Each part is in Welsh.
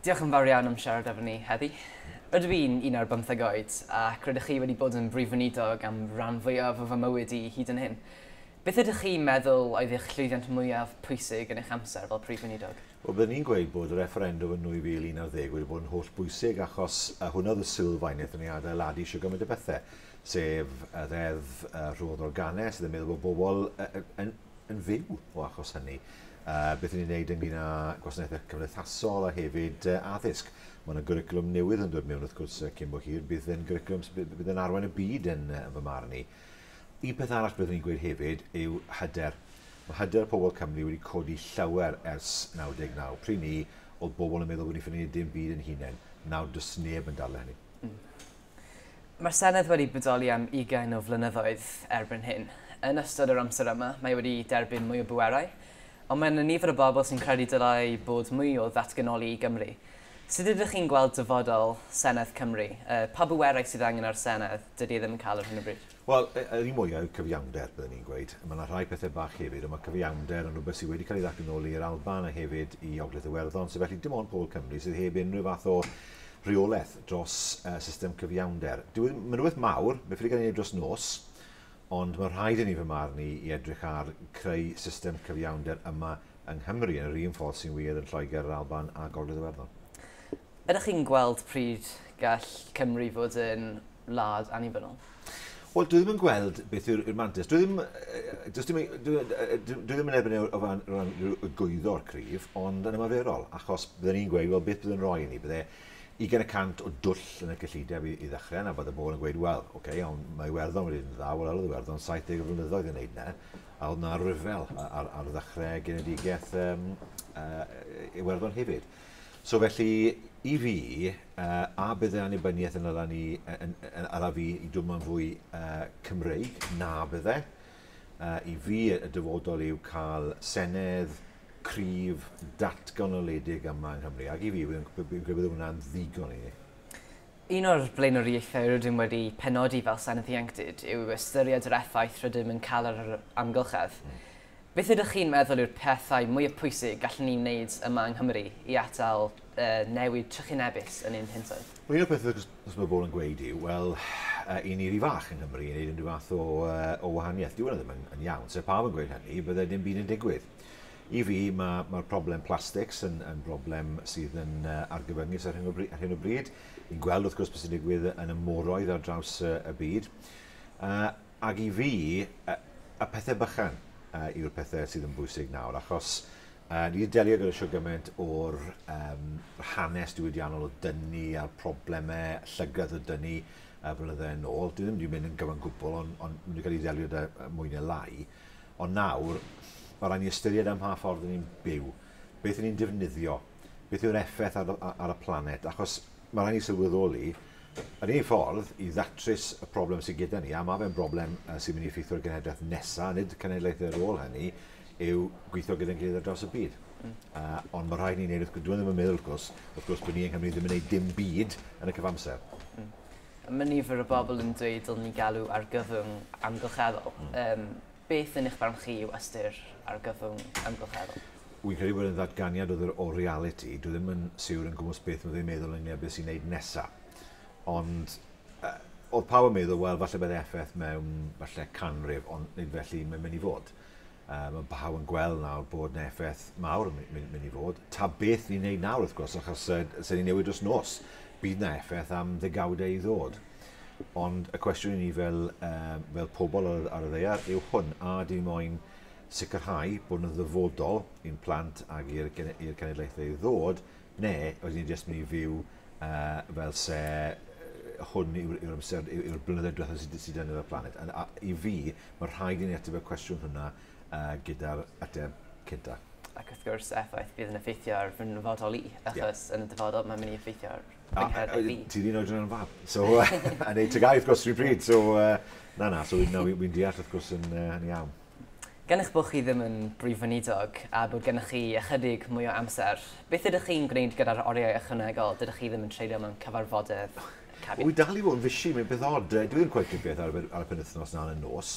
Diolch yn fawr iawn am siarad efo ni heddi. Rydw i'n un ar bymtheg oed, ac rydych chi wedi bod yn Brif Weinidog am ran fwyaf o fy mywyd i hyd yn hyn. Beth ydych chi'n meddwl oedd eich llwyddiant mwyaf pwysig yn eich amser fel Prif Weinidog? Wel, byddwn i'n gweud bod y refferendwm yn 2011 wedi bod yn holl bwysig achos hwnna oedd y sylfaeneth yn ei adeiladu isio gymaint o bethau, sef y Ddeddf Rhodd Organedd, sydd yn meddwl bod bobl yn yn fyw o achos hynny. Uh, beth ni'n gwneud ynglyn â gwasanaethau cymdeithasol a hefyd uh, addysg. Mae yna gyriclwm newydd yn dod mewn wrth gwrs uh, cyn bo hir. Bydd yn gyriclwm sydd bydd yn arwain y byd yn, uh, fy marn i. Un peth arall byddwn i'n gweud hefyd yw hyder. Mae hyder pobl Cymru wedi codi llawer ers 99. Pryd ni, oedd bobl yn meddwl bod ni'n ffynnu dim byd yn hunain. Nawr, does neb yn dal hynny. Mm. Mae'r Senedd wedi bodoli am ugain o flynyddoedd erbyn hyn. Yn ystod yr amser yma, mae wedi derbyn mwy o bwerau, ond mae yna nifer o bobl sy'n credu dylai bod mwy o ddatganoli i Gymru. Sut ydych chi'n gweld dyfodol Senedd Cymru? Pa bwerau sydd angen ar y Senedd? Dydy e ddim yn cael ar hyn o bryd. Wel, y- yr un mwya yw cyfiawnder, byddwn i'n gweud. Mae yna rhai pethau bach hefyd, ond mae cyfiawnder yn rhywbeth sydd wedi cael ei ddathlu nôl i'r Alban a hefyd i Ogledd Iwerddon, so felly dim ond pobl Cymru sydd heb unrhyw fath o reolaeth dros uh, system cyfiawnder. Dyw e ddim, mae'n rhywbeth mawr, mae'n ffili cael ei wneud dros nos, ond mae rhaid i ni fy marn i i edrych ar creu system cyfiawnder yma yng Nghymru yn yr un ffordd sy'n wir yn Lloegr, yr Alban a Gogledd Iwerddon. Ydych chi'n gweld pryd gall Cymru fod yn wlad annibynnol? Wel, dwi ddim yn gweld beth yw'r mantis. Dwi ddim, dwi ddim, dwi, dwi ddim yn erbyn e o ran, ran gwyddor cryf, ond yn ymarferol, achos byddwn ni'n gweud, wel, beth byddwn roi i ni? Bydde 20% o dwll yn y cyllideb i, i ddechrau, na bod y bobl yn gweud, wel, oce, okay, ond mae Iwerddon wedi yn dda, wel, oedd Iwerddon 70 flynyddoedd yn neud na, a oedd na ryfel ar, ar ddechrau genedigaeth um, uh, Iwerddon hefyd. So felly, i fi, a bydde annibyniaeth yn ala ni, ala fi i dwmmo'n fwy Cymreig? Na, bydde. I fi, y dyfodol yw cael senedd cryf, datganoledig yma yng Nghymru. Ac i fi, fi'n credu bod hwnna'n ddigon i ni. Un o'r blaenoriaethau rydym wedi penodi fel Senedd Ieuenctid yw ystyried yr effaith rydym yn cael ar yr amgylchedd. Beth ydych chi'n meddwl yw'r pethau mwyaf pwysig gallwn ni wneud yma yng Nghymru i atal y newid trychinebus yn ein hintoedd? Wel, un o'r pethau os mae bobl yn gweud yw, wel, i ni ry fach yng Nghymru i wneud unrhyw fath o, o wahaniaeth. Dyw hwnna ddim yn, yn iawn. Se pawb yn gweud hynny, bydde dim byd yn digwydd. I fi, mae, mae'r problem plastics yn, yn broblem sydd yn uh, argyfyngus ar hyn, o bryd, ar hyn o bryd. Ni'n gweld, wrth gwrs, beth sy'n digwydd yn y moroedd ar draws uh, y byd. Uh, Ac i fi, y pethau bychan yw'r pethau sydd yn bwysig nawr, achos ni wedi delio gyda siwr gymaint o'r hanes diwydiannol o dynu a'r problemau llygredd o dynu y blynydde yn ôl. Dwi ddim wedi mynd yn gyfan gwbl, ond maen nhw wedi cael ei ddelio da mwy neu lai. Ond nawr, mae rhaid ni ystyried am mha ffordd ni'n byw, beth ni'n defnyddio, beth yw'r effaith ar y planet, achos mae rhaid ni sylweddoli, Yr unig ffordd i ddatrys y problem sydd gyda ni, a mae fe'n broblem sy'n mynd i effeithio ar genhedlaeth nesaf, nid cenedlaethau ar ôl hynny, yw gweithio gyda'n gilydd ar draws y byd. Mm. Uh, ond mae rhaid ni'n gwneud, wrth gwrs, dwi'n ddim yn meddwl, wrth gwrs, wrth gwrs bod ni yng Nghymru ddim yn gwneud dim byd yn y cyfamser. Mm. Mae nifer o bobl yn dweud dylwn ni galw ar gyfwng amgylcheddol. Mm. Um, Beth yn eich barn chi yw ystyr argyfwng amgylcheddol? Wi'n credu bod e'n ddatganiad o ddr- o realiti. Dwi ddim yn siwr yn gwmws beth ma' fe'n meddwl ynglŷn â beth sy'n neud nesa. Ond yy o'dd pawb yn meddwl wel falle bydde FF mewn falle canrif ond nid felly mae'n myn' i fod. Yy ma' pawb yn gweld nawr bod 'na effaith mawr yn my- myn- myn' i fod. Ta beth ni'n neud nawr wrth gwrs achos yy 'sen ni'n newid dros nos. Bydd 'na effaith am ddegawdau i ddod. Ond y cwestiwn i ni fel, um, fel pobl ar, ar y ddeiar yw hwn, a di moyn sicrhau bod yn ddyfodol i'n plant ac i'r cenedlaethau i ddod, neu oes ni'n jyst mynd i fyw uh, fel se hwn yw'r yw amser, yw'r yw blynyddoedd diwethaf sydd, sydd yn y planet. A, a, I fi, mae rhaid i ni ateb y cwestiwn hwnna uh, gyda'r ateb cynta. Ac wrth gwrs, effaith bydd yn effeithio ar fy nyfodol i, achos yeah. yn y dyfodol mae'n mynd i effeithio ar yng nghanol y byd. Ti'n un oedran yn fab. So, yn ei tygau, wrth gwrs, rhywun pryd. So, na, na, so wy'n deall, wrth gwrs, yn iawn. Gan eich bod chi ddim yn Brif Weinidog a bod gennych chi ychydig mwy o amser, beth ydych chi'n gwneud gyda'r oriau ychwanegol dydych chi ddim yn treulio mewn cyfarfodydd cabinet? Wy dal i fod yn fishi, mae'n beth od. Dwi ddim cweit yn beth ar y penwythnos na yn y nos.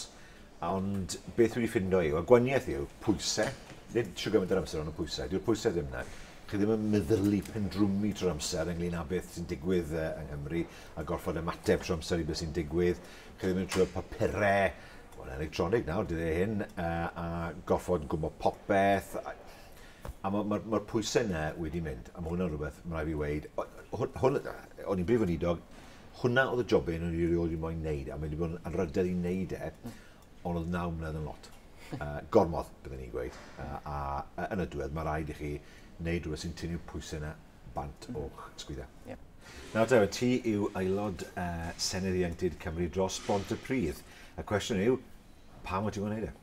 Ond beth dwi wedi ffindo yw, y gwaniaeth yw, pwysau, nid shwt gymaint yr amser ond y pwysau, dyw'r pwysau ddim yna. Chi ddim yn meddylu pendrwmu trwy'r amser ynglyn â beth sy'n digwydd yng Nghymru a gorfod ymateb trwy'r amser i beth sy'n digwydd. Chi ddim yn trwy'r papurau, wel, electronig nawr, dyddiau hyn, a gorfod gwybod popeth. A mae'r ma, ma pwysau yna wedi mynd, a mae hwnna'n rhywbeth mae'n rhaid fi weid. Hwn, hwn, o'n i'n brif weinidog, hwnna oedd y job un o'n i rioed wedi moyn neud, a mae wedi bod yn anrhydedd i neud e, hmm. ond oedd naw mlynedd yn lot. Uh, gormod, byddwn ni'n gweud. Uh, a uh, yn y diwedd, mae rhaid i chi wneud rhywbeth sy'n tynnu'r pwysau yna bant hmm. o'ch sgwydda. Yeah. Nawr, David, ti yw aelod uh, Senedd Ieuenctid Cymru dros Bont y Pridd. Y cwestiwn yw, pam wyt ti'n gwneud e?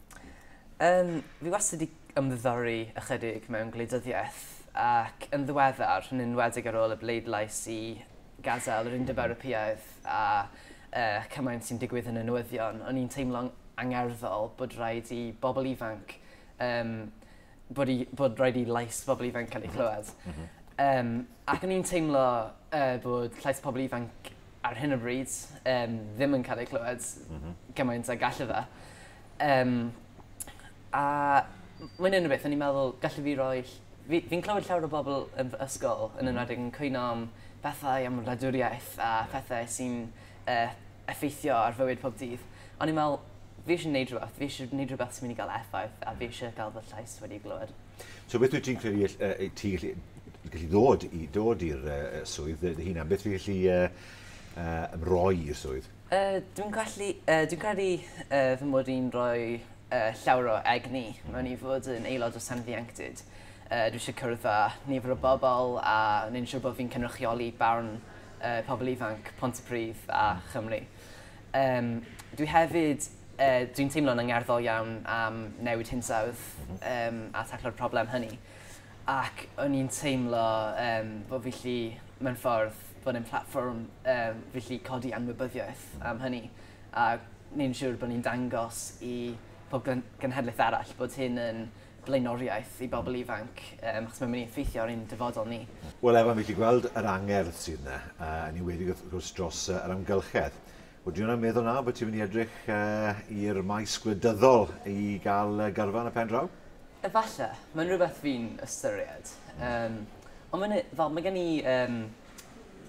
Um, fi wastad wedi ymddiddori ychydig mewn gwleidyddiaeth ac yn ddiweddar, yn enwedig ar ôl y bleidlais i gadael yr Undeb Ewropeaidd a y cymaint sy'n digwydd yn y newyddion, o'n i'n teimlo'n angerddol bod rhaid i bobl ifanc, um, bod, i, bod rhaid i lais bobl ifanc cael ei chlywed. Mm -hmm. um, ac o'n i'n teimlo uh, bod llais pobl ifanc ar hyn o bryd um, ddim yn cael ei clywed mm -hmm. gymaint a gallu fe. Um, a mae'n un o beth, o'n i'n meddwl, gallu fi roi Fi, fi'n clywed llawer o bobl yn fy ysgol, yn enwedig yn cwyno am pethau am wladwriaeth a phethe sy'n yy effeithio ar fywyd pob dydd. O'n i'n me'wl fi isie neud rwbeth, fi isie neud rwbeth sy myn' i ga'l effaith a fi isie ga'l fy llais wedi glywed. So beth wyt ti'n credu all- yy yy ti gallu gallu ddod i ddod i'r yy yy swydd dy dy hunan? Beth fi gallu yy yy ymroi i'r swydd? Yy, dwi'n gallu, yy, dwi'n credu yy, fy mod i'n rhoi yy, llawer o egni mewn i fod yn aelod o Senedd Ieuenctid. Yy, dwi eisiau cwrdd â nifer o bobl a wneud yn siŵr bod fi'n cynrychioli barn yy, pobl ifanc Pontypridd a Chymru. Yym, dwi hefyd, yy, dwi'n teimlo'n angerddol iawn am newid hinsawdd yym, a taclo'r problem hynny. ac o'n i'n teimlo yym bo' fi 'llu mewn ffordd bod e'n platfform yym fi 'llu codi anwybyddiaeth am hynny a neud yn siŵr bo' ni'n dangos i pob glen- genhedlaeth arall bod hyn yn blaenoriaeth i bobol ifanc yym achos ma' myn' i effeithio ar ein dyfodol ni. Wel Evan, fi 'llu gweld yr angerdd sydd 'na, yy yn enwedig wrth gwrs dros yy yr amgylchedd. Ydw i'n meddwl nawr bod ti'n mynd i edrych i'r maes gwleidyddol i gael gyrfa yn y pen draw? Efallai, mae'n rhywbeth fi'n ystyried. Yym, ond mae'n, fel, mae gen i um,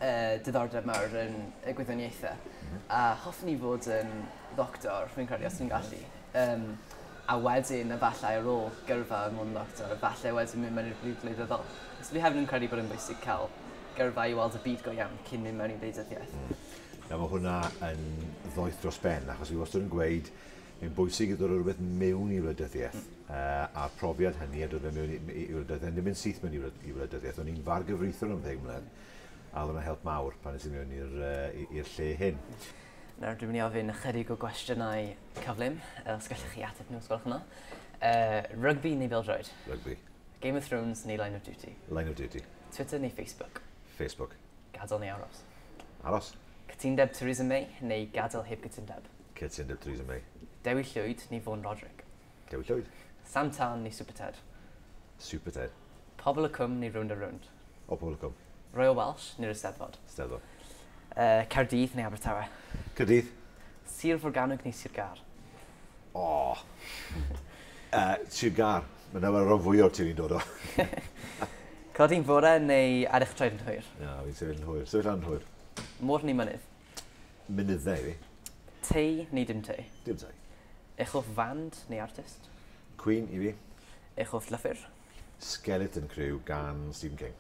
uh, diddordeb mawr yn y gwyddoniaethau. Mhm. A hoffwn i fod yn ddoctor, rwy'n credu, os dwi'n gallu. Um, a wedyn, efallai ar ôl gyrfa yn mwyn ddoctor, efallai wedyn mynd mewn i'r byd gwleidyddol. So fi hefyd yn credu bod yn bwysig cael gyrfa i weld y byd go iawn cyn mynd mewn i wleidyddiaeth. Mhm. Nawr mae hwnna yn ddoeth dros ben, achos fi wastad yn gweud, mae'n bwysig i ddod o rhywbeth mewn i wleidyddiaeth, mm. uh, a'r profiad hynny a dod fe mewn i, i, i wleidyddiaeth, yn ddim yn syth mewn i, i wleidyddiaeth. O'n i'n far gyfreithiwr am ddeg mlynedd, a oedd yna help mawr pan nes i mewn i'r uh, lle hyn. Nawr dwi'n mynd i ofyn ychydig o gwestiynau cyflym, os gallwch chi ateb nhw, os gwelwch yna. Uh, rygbi neu bildroed? Rygbi. Game of Thrones neu Line of Duty? Line of Duty. Twitter neu Facebook? Facebook. Gadael neu aros? Aros. Cytundeb Theresa May neu gadael heb gytundeb? Cytundeb Theresa May. Dewi Llwyd neu Vaughan Roderick? Dewi Llwyd. Sam Tân neu Super Ted? Super Ted. Pobl y Cwm neu Rownd a Rownd? O, Pobl y Cwm. Royal Welsh neu'r Eisteddfod? Eisteddfod. Uh, Caerdydd neu Abertawe? Caerdydd. Sir Forgannwg neu Sir Gar? O! Oh. uh, Sir Gar. Mae dyma rhan fwy o'r ti'n i'n dod o. Codi'n fore neu ar eich traed yn hwyr? Na, fi'n sefyll yn hwyr. Sefyll yn hwyr. Môr neu mynydd? Mynyddau fi. Tei neu dim tei? Dim tei. Eich hoff fand neu artist? Queen i fi. Eich hoff llyfr? Skeleton Crew gan Stephen King.